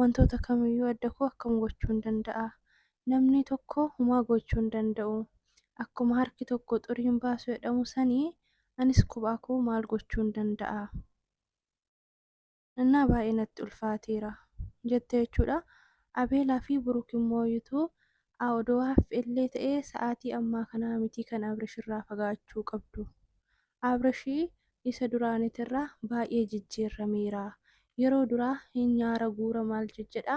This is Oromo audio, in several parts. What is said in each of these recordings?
Wantoota kamiyyuu adda koo akkam gochuun danda'a? Namni tokko humaa goochuu hin danda'u. Akkuma harki tokko xurii hin baasu jedhamu sani anis kophaa koo maal gochuun danda'a? Annaa baay'ee natti ulfaateera. jette jechuudha. Abeelaa fi Buruk immoo yutuu a odoo haaffi illee ta'ee sa'aatii ammaa kanaa mitii kan Abrish irraa fagaachuu qabdu. Abrashi isa duraanitirra baay'ee jijjiirrameera. Yeroo duraa hin nyaara guura maal jejjedha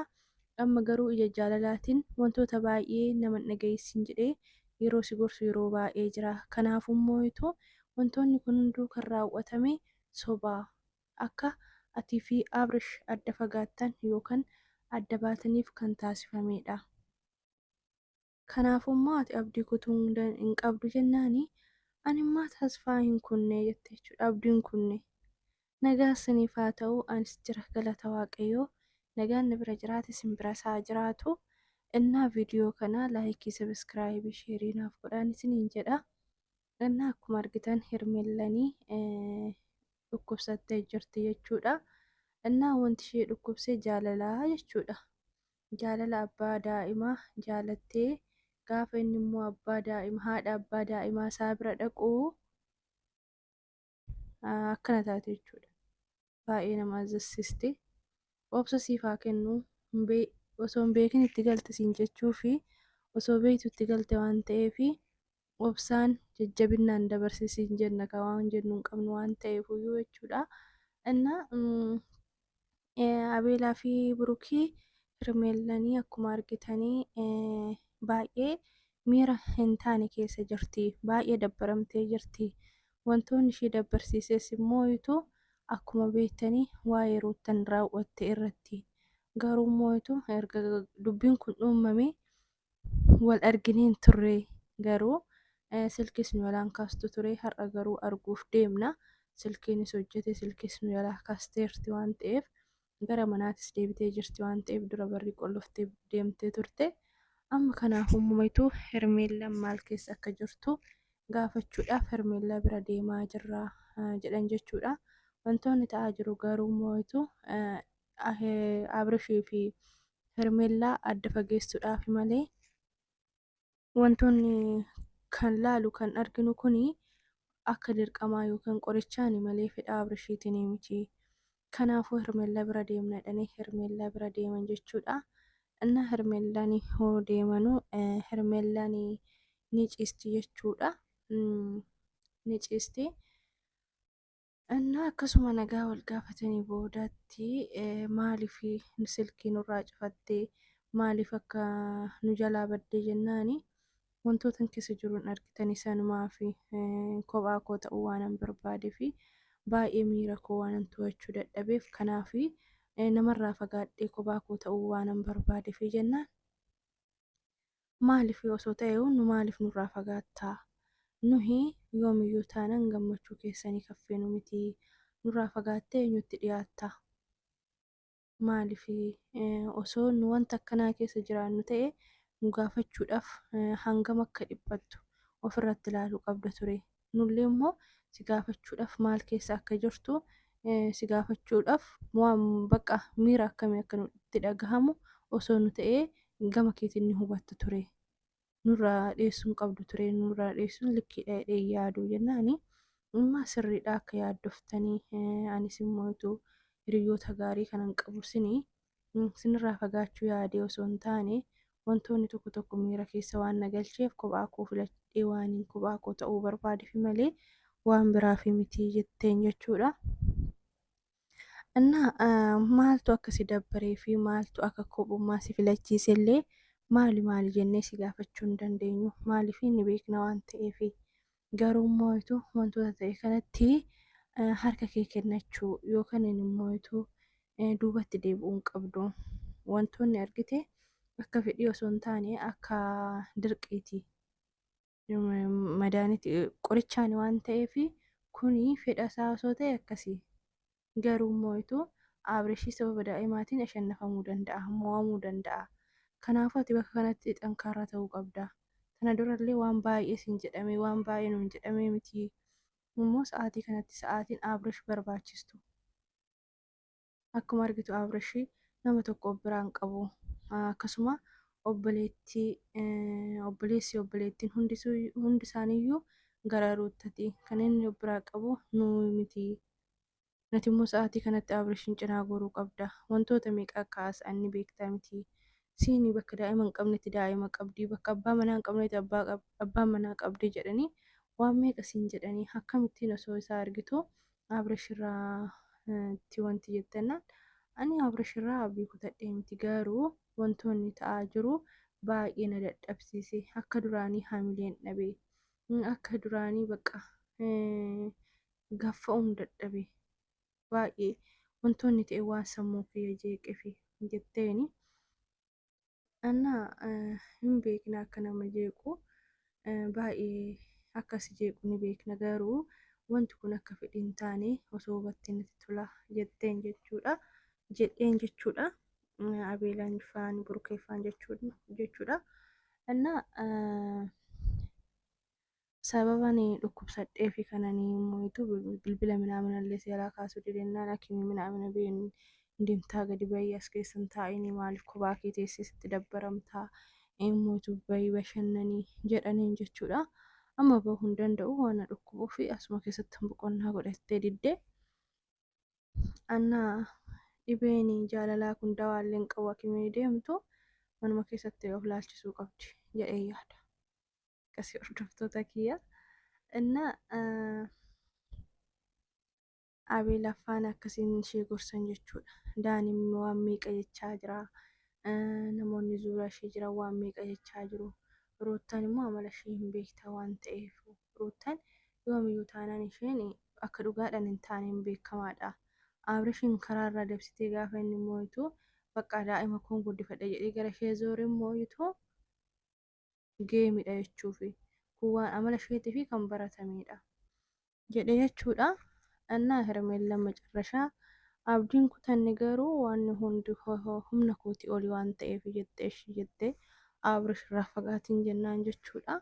amma garuu ija jaalalaatin wantoota baay'ee nama hin dhaga'iissin jedhee yeroo si gorsu yeroo baay'ee jira. Kanaafu hin mooyitu. Wantoonni kun hunduu kan raaw'atame soba. Akka ati fi Abrish adda fagaattan yookan adda baataniif kan taasifameedha. Kanaafuu immoo ati abdii kutuu hin qabdu jennaan ani immoo tasfaa hin kunne jette jechuudha abdii hin kunne. Nagaa isiniif haa ta'u anis jira galata waaqayyoo nagaan na bira jiraate isin biras haa jiraatu. Innaa viidiyoo kana laayikii sabiskiraayibii sheerii naaf godhaan isiniin jedha. Innaa akkuma argitan hermellanii dhukkubsattee jirti jechuudha. Innaa wanti ishee dhukkubsee jaalalaa jechuudha. jaalala abbaa daa'ima jaalattee gaafa inni immoo abbaa daa'ima haadha abbaa daa'imaa isaa bira dhaqu akkana taate jechuudha. Baay'ee nama azassiste. Obsa siif haa kennu. Osoo hin beekin itti galte siin jechuu fi osoo beektu itti galte waan ta'eef obsaan jajjabinnaan dabarsi siin jenna ka waan jennu hin qabnu waan ta'eefuyyuu jechuudha inna abeelaa fi burukii hirmeellanii akkuma argitanii baay'ee miira hin taane keessa jirti baay'ee dabbaramtee jirti wantoonni ishii dabbarsiises immoo ituu akkuma beektanii waa'ee ruuttan raawwatte irratti garuu immoo ituu erga dubbiin kun uumamee wal arginee hin turre garuu eh, silkis nu yalaan kaastu ture har'a garuu arguuf deemna silkiinis hojjete silkis nu yalaa kaasteerti waan ta'eef gara manaatis deebitee jirti waan ta'eef dura barri qolloftee deemtee turte amma kanaaf uumamaitu hermeellaan maal keessa akka jirtu gaafachuudhaaf hermeellaa bira deemaa jirra eh, jedhan jechuudha wantoonni ta'aa jiru garuu moo'itu Abrishii fi Hermeellaa adda fageessuudhaafi malee wantoonni kan laalu kan arginu kun akka dirqamaa yookiin qorichaani malee fedha Abrishiitiin miti. Kanaafuu Hermeellaa bira deemna jedhanii Hermeellaa bira deeman jechuudha. Innaa Hermeellaan hoo deemanu Hermeellaan ni ciisti jechuudha. Ni ciisti. Ennaa akkasuma nagaa wal gaafatanii boodatti maaliif silkii nurraa cufatte maaliif akka nu jalaa badde jennaan wantootan keessa jiru hin argitanii sanumaaf kophaa koo ta'uu waanan barbaadee fi baay'ee miira koo waanan to'achuu dadhabeef kanaaf namarraa fagaadhee kophaa koo ta'uu waanan barbaadee fi jennaan Maaliif osoo ta'eehu nu maaliif nurraa fagaatta? Nuhi yoomiyyuu taanan gammachuu keessanii kan feenu miti. Nurraa fagaattee eenyutti dhiyaatta? Maaliif osoo nu wanta akkanaa keessa jiraannu ta'e nu gaafachuudhaaf hangam akka dhiphattu ofirratti ilaaluu qabda ture. nullee immoo si gaafachuudhaaf maal keessa akka jirtu si gaafachuudhaaf waan bakka miira akkamii akka nutti dhagahamu osoo nu ta'ee gama keetiin ni hubatta ture. Nurraa dheessuun qabdu ture nurraa dheessuun likkiidha jedhee yaaduu jennaani. Amma sirriidha akka yaaddoftanii anis immoo utuu hiriyoota gaarii kanan qabu isinii Isinirraa fagaachuu yaadee osoo hin taane, wantoonni tokko tokko miira keessa waan na galcheef kophaa koo filadhee waanin kophaa koo ta'uu barbaadefi malee waan biraafi miti jetteen jechuudha. Innaa maaltu akka si dabbaree fi maaltu akka kophummaa si filachiise illee maali maali jennee si gaafachuu hin dandeenyu. Maaliif ni beekna waan ta'eefi. garuu immoo ituu wantoota ta'e kanatti harka kee kennachuu yookaan immoo ituu duubatti deebi'uu hin qabdu. Wantoonni argite akka fedhii osoo hin taane akka dirqiiti. Madaaniti qorichaani waan ta'eef kuni fedha isaa osoo ta'e akkasii. Garuu immoo ituu Abreshii sababa daa'imaatiin ashannafamuu danda'a, mo'amuu danda'a. Kanaafuu ati bakka kanatti xankaarra ta'uu qabda. Tana dura illee waan baay'ee siin jedhamee, waan baay'ee nuun jedhamee mitii? Immoo sa'aatii kanatti sa'aatiin Abresh barbaachistu. Akkuma argitu Abresh nama tokko of biraa hin qabu. Akkasuma obboleettii, obboleessi, obboleettiin hundi hundi isaaniiyyuu gara Ruuttati. Kan inni of biraa qabu nuyi mitii. Ati immoo sa'aatii kanatti Abirishin cinaa goruu qabda. Wantoota meeqa akka haasa'an ni beekta mitii? Siini bakka daa'ima hin qabnetti daa'ima qabdi, bakka abbaa manaa hin qabnetti abbaa qab, abbaa manaa qabdi jedhanii waan meeqa siin jedhanii akkamittiin osoo isaa argituu Abirish irraa ti wanti jettennaan ani Abirish irraa abdii kutadhee miti garuu wantoonni ta'aa jiru baay'ee na dadhabsiise akka duraanii hamileen dhabe akka duraanii baqqa gaffa'uun dadhabe baay'ee wantoonni ta'e waan sammuu kiyya jeeqefi jetteeni anna hin beekna akka nama jeequ baay'ee akka si jeequ ni beekna garuu wanti kun akka fedhi hin taane osoo hubattee natti tola jetteen jechuudha jedheen jechuudha abeelaan faan burkeeffaan jechuudha anna Sababa ani dhukkubsadhee fi kan ani mo'itu bilbila minaamina illee seeraa kaasuu didennaan akimii minaamina biyya hin deemtaa gadi bahii as keessa hin taa'ini maaliif kophaa kee teessee sitti dabbaramtaa hin mo'itu bahii bashannanii jedhaniin jechuudha. Amma bahuu hin danda'u waan na dhukkubuu fi asuma keessatti hin boqonnaa godha jettee didde. Anna dhibeen jaalalaa kun dawaa illee hin qabu akimii deemtu manuma keessatti of laalchisuu qabdi jedhee yaada. akkasii hordoftoota kiyya inna abee laffaan akkasiin ishee gorsan jechuudha daaniin waan meeqa jechaa jira namoonni zuuraa ishee jiran waan meeqa jechaa jiru ruuttan immoo amala ishee hin beekta waan ta'eef ruuttan yoomiyyuu taanaan isheen akka dhugaadhaan hin taaneen beekamaadha abrishiin karaarraa dabsitee gaafa inni mooyitu bakka daa'ima koon guddifadha jedhee gara ishee zoore mooyitu geemidha jechuufi kun waan amala isheetiifi kan baratameedha jedhe jechuudha annaa hermeellan macarrashaa abdiin kutanne garuu waanni hundi humna kooti oli waan ta'eef jette eshi jette abrish irraa fagaatiin jennaan jechuudha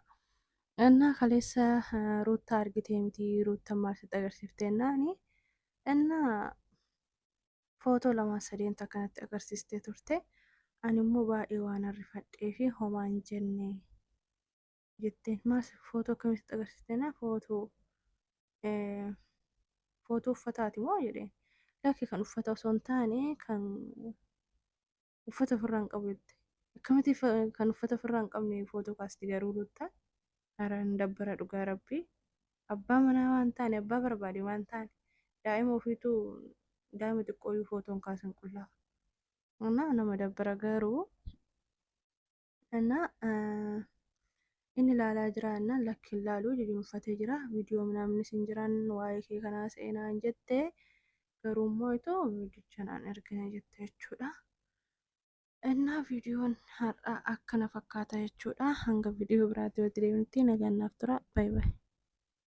annaa kaleessa ruuttaa argitee miti ruuttan maal sitti agarsiifte ennaani annaa footoo lamaa sadeen takka natti agarsiistee turte ani immoo baay'ee waan arrifadhee fi homaa hin jenne jetteen maas footoo akkamitti agarsiisteena footoo footoo uffataati moo jedheen lakki kan uffata osoo hin taane kan uffata ofirraa hin qabu jette. Akkamitti fa- kan uffata ofirraa hin qabne footoo kaasti garuu ruttaa hara hin dabbara dhugaa rabbii. Abbaa manaa waan taane abbaa barbaade waan taane daa'ima ofiitu daa'ima xiqqooyyuu footoon kaasan qullaa. Nama nama dabbara garuu Annaa inni ilaalaa jira annaan lakki hin laaluu jijinuffatee jira viidiyoo minaamni sin jiran waa'ee kee kanaa seenaa hin jette garuu immoo itoo viidichan an ergine jette jechuudha. Innaa viidiyoon har'aa akkana fakkaata jechuudha hanga viidiyoo biraatti walitti deebinutti nagaan naaf tura baay'ee.